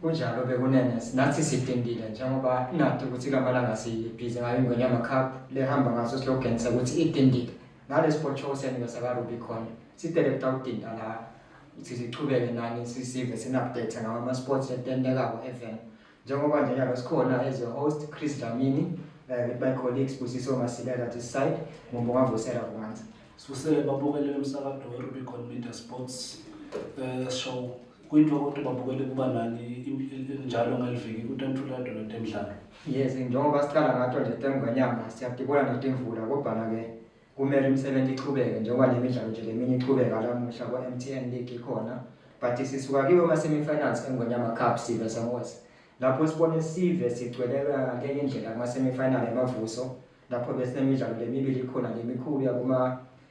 kunjalo bekunene nathi sidindile njengoba ingadi ukuthi kamalanga sibhizi ngayo ingwenyama cup lehamba ngaso slogan sokuthi idindile nalesiphotsho senu sakaRubicon sidele kutawudinda la ukuthi sichubeke nani sisive sini-update ngawo ama-sports etentekako evn njengoba nje nyalo sikhona as a host chris dlamini um eh, with my colleagues busiso masilela this side mumbongavusela kumanzi sibusele babukele umsakado werubicon media sports um show kuyinto kodwa babukele kuba nani njalo ngaliviki kutanthula dolo temdlalo yes njengoba siqala ngato nje temngwenyama siyadibona netimvula kodwa-ke kumele imisebenzi iqhubeke njengoba le midlalo nje leminye iqhubeka lamuhla kwa-m t n league ikhona but sisuka kiwo ama-semifinals engwenyama cup sive samos lapho sibone sive sigcweleka ngenye indlela kuma-semifinal emavuso lapho besinemidlalo lemibili ikhona lemikhulu yakuma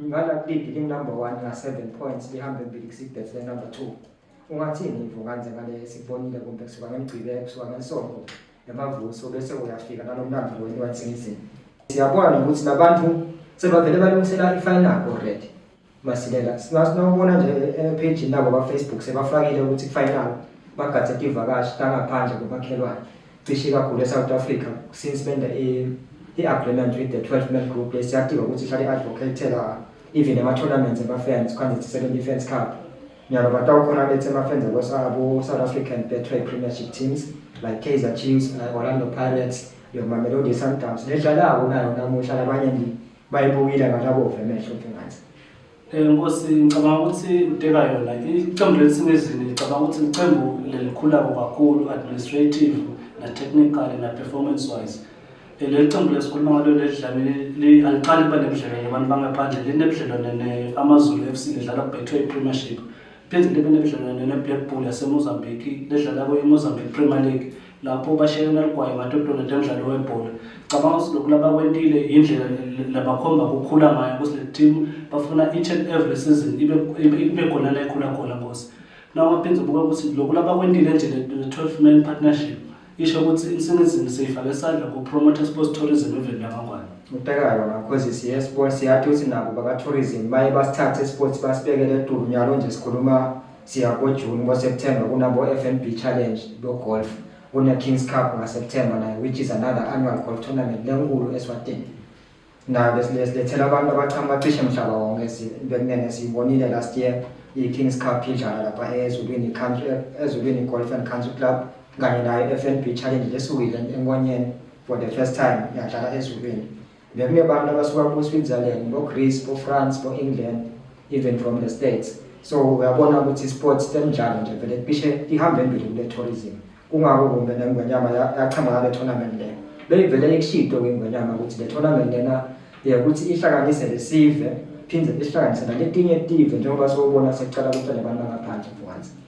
Ngala big li number 1 na 7 points lihambe mbili kusibet le number 2. Ungathini ivo kanje ngale sikubonile kumbe kusuka ngemgcibelo kusuka ngesonto emavuso bese uyafika nalomlando wenu wansingizini. Siyabona ukuthi labantu sebavele balungisela i-final already. Masilela sinasibona nje e-page nabo ba-Facebook sebafakile ukuthi ku-final bagade ivakashi kangaphandle komakhelwane. cishe kakhulu eSouth Africa since benza i-agreement with the 12 man group lesiyadinga ukuthi ihlale i-advocatela even ema-tournaments ema-fans kwanze sisebenza i-fans cup nyalo batawukhona bethe ama-fans abo-south african betway premiership teams like kaizer chiefs like orlando pirates yomamelodi sundowns nedlalako nayo namuhla labanye bayibukile ngalabove emehlo mfengathi Eh, Nkosi ngicabanga ukuthi uteka yona iqembu lelisemezini ngicabanga ukuthi iqembu lelikhulako kakhulu administrative na-technical na-performance wise eh, leli qembu lesikhuluma ngalo lelidlamile aliqali kuba nebudlelwane abantu bangaphandle linebudlelwane ne-amazulu f c lidlala kubetway premiership phinde libe nebudlelwane ne-black bull yasemozambique ledlala kwe-mozambique premier league lapho bashayela ligwayo matotolo njengomdlalo webhola cabanga ukuthi lokhu labakwentile yindlela labakhomba kukhula ngayo ukuthi le team bafuna each and every season ibe ibe khona la ikhula khona ngosi nawo maphinde ubuka ukuthi lokhu labakwentile nje le 12 man partnership isho ukuthi insingizini seyifake isandla ku promoter sports tourism eveni lamangwane ubhekayo ngakhozi siye sports siyathi ukuthi nabo baka tourism baye basithathe sports basibekele edulu nyalo nje sikhuluma Siya koJuni, ngoSeptember kunabo-FNB Challenge bogolf, kuneKings Cup ngaSeptember nayo which is another annual golf tournament lenkulu eSwatini. Nayo besilethela abantu abachama bacishe mhlaba wonke bekunene siyibonile last year iKings Cup idlala lapha eZulwini Country eZulwini Golf and Country Club kanye nayo FNB Challenge lesukile enkonyeni for the first time yadlala eZulwini. Ngeminye abantu abasuka kuSwitzerland, boGreece, boFrance, boEngland, even from the States. So uyabona ukuthi isports temidlalo nje vele cishe ihamba embili kule tourism. Kungako kumbe nengwenyama yachama le tournament le. Beyivele ikushido kwingwenyama ukuthi le tournament lena ukuthi ihlanganise lesive phinde ihlanganise naletinye tive njengoba sowubona sekucala kuhlale abantu bangaphandle for once.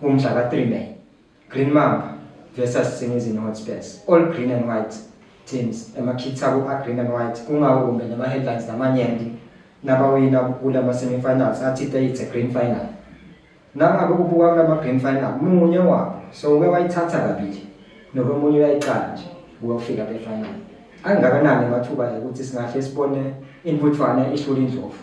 Umdla ka-3 May, Green Mamba versus Singizini Hotspurs, all green and white teams emakhitha ku-agreen and white kungako kumbe nama-headlines namanyenti nabawina kula ma-semifinals athi they it's a green final nangabe kubuka kula ma-green final munye wabo so uke wayithatha kabili nokomunye uyayiqala nje uyofika kwi-final angakanani amathuba ukuthi singahle sibone intutshwana ihlula indlovu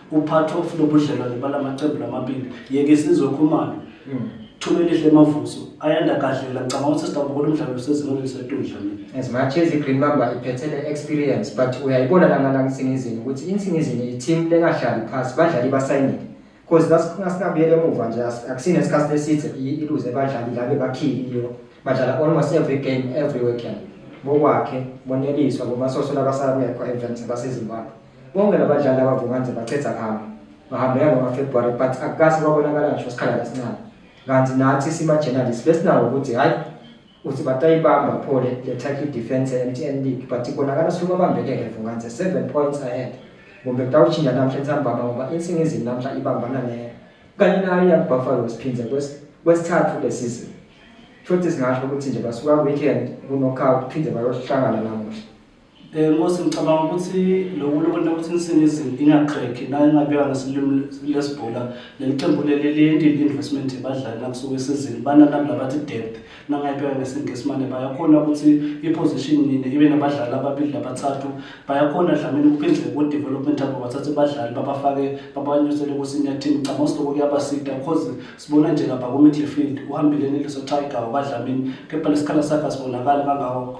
Uphathi ofuna ubudlelwane bala maqembu lamabili yeke isizwe Khumalo Mm. Thumelihle Mavuso ayanda kadlela ngicabanga ukuthi sidabukela umdlalo usezingeni elisedudla mina. As much as iGreen Mamba iphethe le experience but uyayibona lana la ngisingizini ukuthi insingizini i-team lengahlali phansi badlali basayinile because nasingabuyela emuva nje as- akusini esikhathi eside i- iluze badlali la bebakhiliyo badlala almost every game every weekend bokwakhe boneliswa bomasoso labasala kuyekho events basezimbabwe Bonke labadlali abavuma nje bachetha khama. Bahambeka ngoFebruary but akukase kwabonakala ngisho isikhala esincane. Kanti nathi sima journalists besinawo ukuthi hayi uthi batayibamba pho le Turkey defense eMTN League but ibonakala suka bambekeke Vungance 7 points ahead. Kumbe kutawushintsha namhla nsambama ngoba insingizini namhla ibambana ne kanye nayo yaBuffaloes phinde kwesithathu le season. Futhi singasho ukuthi nje basuka weekend ku knockout phinde bayohlangana namuhla. Eh Nkosi ngicabanga ukuthi lokhu lokho ukuthi nisingizini ingaqhekhi nayo ingabeka ngesilimi lesibhola leliqembu leli liyendile investment yabadlali nakusuka esizini bananami labathi depth nangayibeka ngesingisi mane bayakhona ukuthi i-position nini ibe nabadlali ababili nabathathu bayakhona dlamini ukuphindle ku-development abo bathathe abadlali babafake babanyusele ku-senior team ngicabanga ukuthi lokho kuyabasida because sibona nje lapha ku-midfield uhambile neliso tiger wakwadlamini kepha lesikhala sakhe asibonakali kangako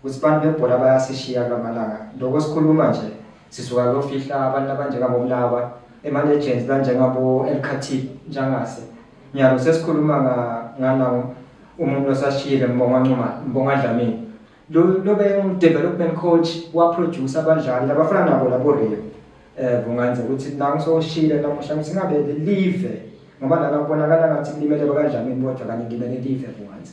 Ukuthi abantu bebhola bayasishiya kulamalanga. Lokho sikhuluma nje sisuka kuyofihla abantu abanjengabo Mlawa, ema-legends banjengabo El Khatib njengase. Nyalo sesikhuluma ngana umuntu osashiyile Mbonga Ncuma, Mbonga Dlamini. Lo lobe development coach wa producer abadlali labafana nabo labo Rio. Eh kungenza ukuthi nangu soshile namuhla ukuthi ngabe live ngoba lana kubonakala ngathi kulimele bakadlamini kodwa kanti ngimele live kungenza.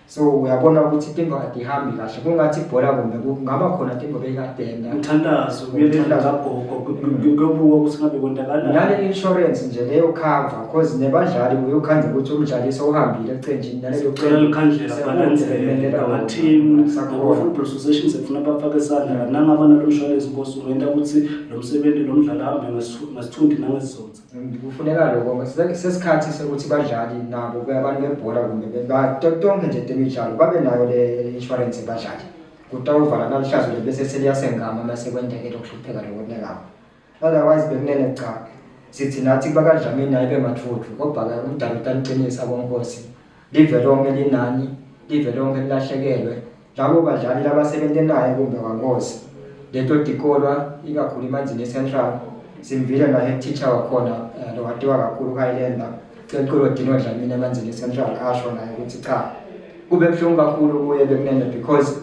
so uyabona ukuthi into kade ihambi kahle kungathi ibhola kumbe kungaba khona into beyikadenda mthandazo uyelelagogo kuyobuka ukuthi ngabe kontakalani nale insurance nje leyo cover because nebadlali uyokhanda ukuthi umdlaliso uhambile ecenjini naleyo cela likhandlela balance ama team sakho football association sefuna bafake isandla kananga abana lo insurance inkosi ungenta ukuthi lo msebenzi lo mdlali ahambe ngesithundi nangezizotha kufuneka lokho sesikhathi sokuthi badlali nabo abantu bebhola kumbe tonke nje temidlalo babe nayo le insurance badlali kutawuvala naluhlazo le bese seliyasengama uma sekwendeke lokuhlupheka lokunekako otherwise bekunene cha sithi nathi bakadlamini naye bemathuthu kodwa-ke umdala utaniqinisa konkosi live lonke linani live lonke lilahlekelwe labo badlali labasebente naye kumbe wangozi leto tikolwa ikakhulu imanzini central simvile naye teacher wakhona eh, lowatiwa kakhulu kayilemba ceculo dino dlamini emanzini central asho naye ukuthi cha kube buhlungu kakhulu kuye bekunene because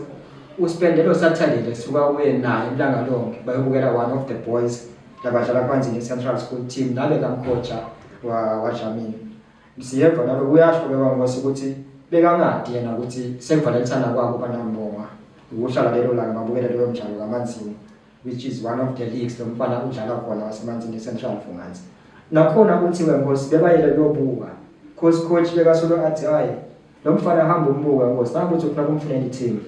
uspende lo saturday lesuka kuye naye ilanga lonke bayobukela one of the boys labadlala kumanzini central school team nale kamkotsha wadlamini Siyeva lapho kuyasho ke kwangosi ukuthi bekangadi yena ukuthi sekuvalentana kwabo banambonga ukuhlala lelo langa babukele leyo mdlalo kamanzini which is one of the leagues lo mfana udlala khona wasemanzini central funganzi nakhona kuthiwe ngosi bebayele kuyobuka coach coach bekasolo athi hayi lo mfana hamba umbuka ngosi nangokuthi ufuna kumfunela i-team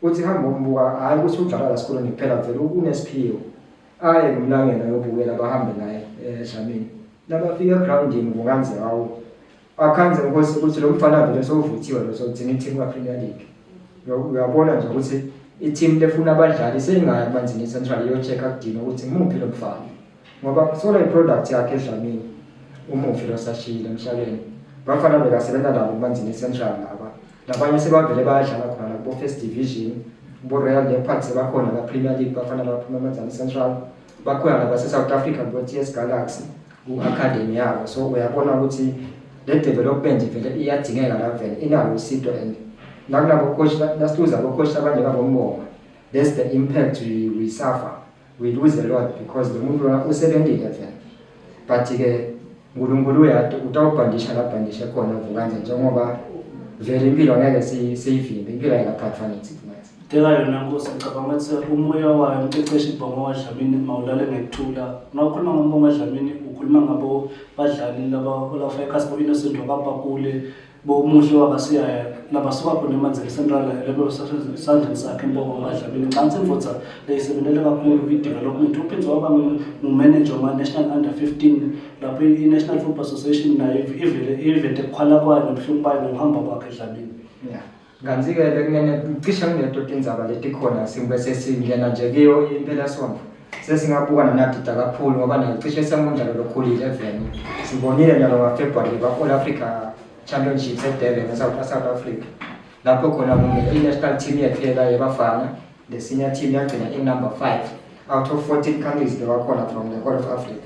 uthi hamba umbuka hhayi ukuthi udlala la sikoleni kuphela vele unesiphiwo aye ngumlangela yobukela bahambe naye eh, edlamini nabafika egrawundini kunganze awu akhanze nkosi ukuthi lo mfana vele sowuvuthiwe lo sokugcina ithimu kapremier league uyabona nje ukuthi ithimu lefuna abadlali seyingaya emanzini central iyocheck-a kudina ukuthi ngimuphi lo mfana ngoba kusola iproduct yakhe edlamini umufi losashiyile emhlabeni bafana bekasebenza nabo kumanzini central laba labanye sebavele bayadlala khona kubo-first division kubo-royal leopard sebakhona kapremier league bafana baphuma emanzini central bakhona nabase-south africa kubo-ts galaxy ku-academy yabo so uyabona ukuthi le development vele iyadingeka la vele inalo usido and nakulabo coach nasiluza abo coach abanye babombonga that's the impact we, we suffer we lose a lot because lo muntu lona usebentile vele but-ke unkulunkulu uyati utawubhandisha labhandishe khona vukanje njengoba vele impilo ngeke siyivimbe impilo ayikaphathwa nithi futhi teka yona nkosi ngicabanga ukuthi umoya wayo umqeqeshi ibhongo wadlamini mawulale ngekuthula ungakhuluma ngombongo wadlamini ukhuluma ngabo badlali laba olafa ekhasi bo-innocent wakabakule bomuhle wakasiyaya labasuka khona emanzini central lelo sandleni sakhe impoko amadlabini ngicabanga imvutha leyisebenzele kakhulu kwi-develop umuntu uphinde waba ngumanager wama-national under 15 lapho i-national football association nayo ivele ivete kukhwala kwayo nobuhlungu bayo nokuhamba kwakhe edlabini yeah. Kanti-ke cishe kuneto tindzaba letikhona singbe sesingena nje kiyo impelasonto sesingabuka nanadida kakhulu ngoba nayo cishe sengumdlalo lokhulile eveni sibonile njalo ngafebruary kwa-all africa championships edurban esouth south africa lapho khona kumele i-national team yethu yeka yebafana the senior team yagcina inumber five out of 14 countries bewakhona from the whole of africa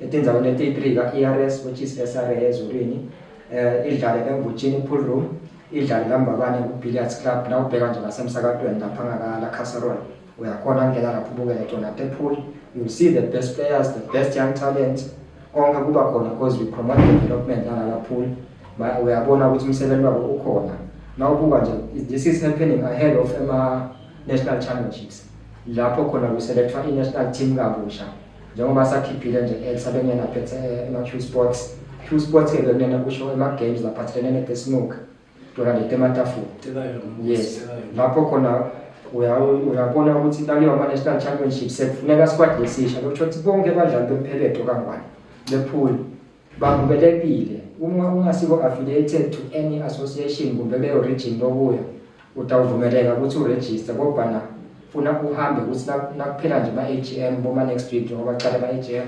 Etinzaweni eti-3 ka-ERS which is SRA ezulwini eh idlale eMvutshini Pool Room idlale lambabane ku-Billiards Club la ubheka nje ngasemsakatweni lapha ngakala Casserol uyakhona ngena lapho ubukele tona te pool you see the best players the best young talents konke kuba khona because we promote development la la pool uyabona ukuthi umsebenzi wabo ukhona nawubuka nje this is happening ahead of ama national championships lapho khona kuselethwa i-national team kabusha njengoba sakhiphile nje exa bengena phethe ema-q sports q sports ke bekunena kusho ema-games laphathelene netesinuk tolande tematafula yes lapho khona uyabona ukuthi laliyo ama-national championship sekufuneka squad lesisha lokusho ukuthi bonke abadlali bempheletho kangwane bephule Bavumelekile uma ungasibo affiliated to any association kumbe leyo region lokuya utawuvumeleka ukuthi uregister kobana funa uhambe ukuthi nakuphela nje ama-agm boma-next week njengoba cala ama-agm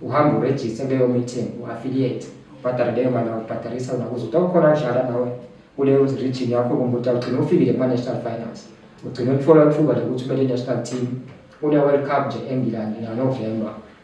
uhambe urejiste kuleyo meeting u-affiliate ubhadare leyo mali awubhadarisa wona kuze utawukhona kudlala nawe kuleyo region yakho kumbe utawugcina ufikile kuma-national finance ugcine ukuthola ithuba lokuthi umele i-national team kule-world cup nje engilandi nanovemba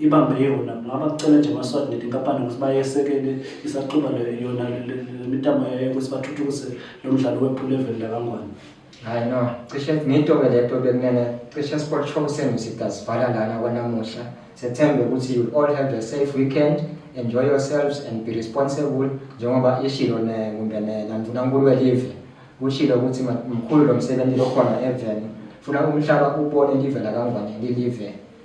ibambe yona ngaba kucela nje amaswati neti inkampani ukuthi bayesekele isaxuba yona lemitamo yayo ukuthi bathuthukise lo mdlalo wephula eveni lakangwane hayi no cishe ngiyitoke le to bekumele cishe sport show senu sidasivala lana kwanamuhla sethembe ukuthi you all have a safe weekend enjoy yourselves and be responsible njengoba ishilo nekumbene nandunankulu welive kushilo ukuthi mkhulu lo msebenzi lokhona eveni funa umhlaba ubone live lakangwane lilive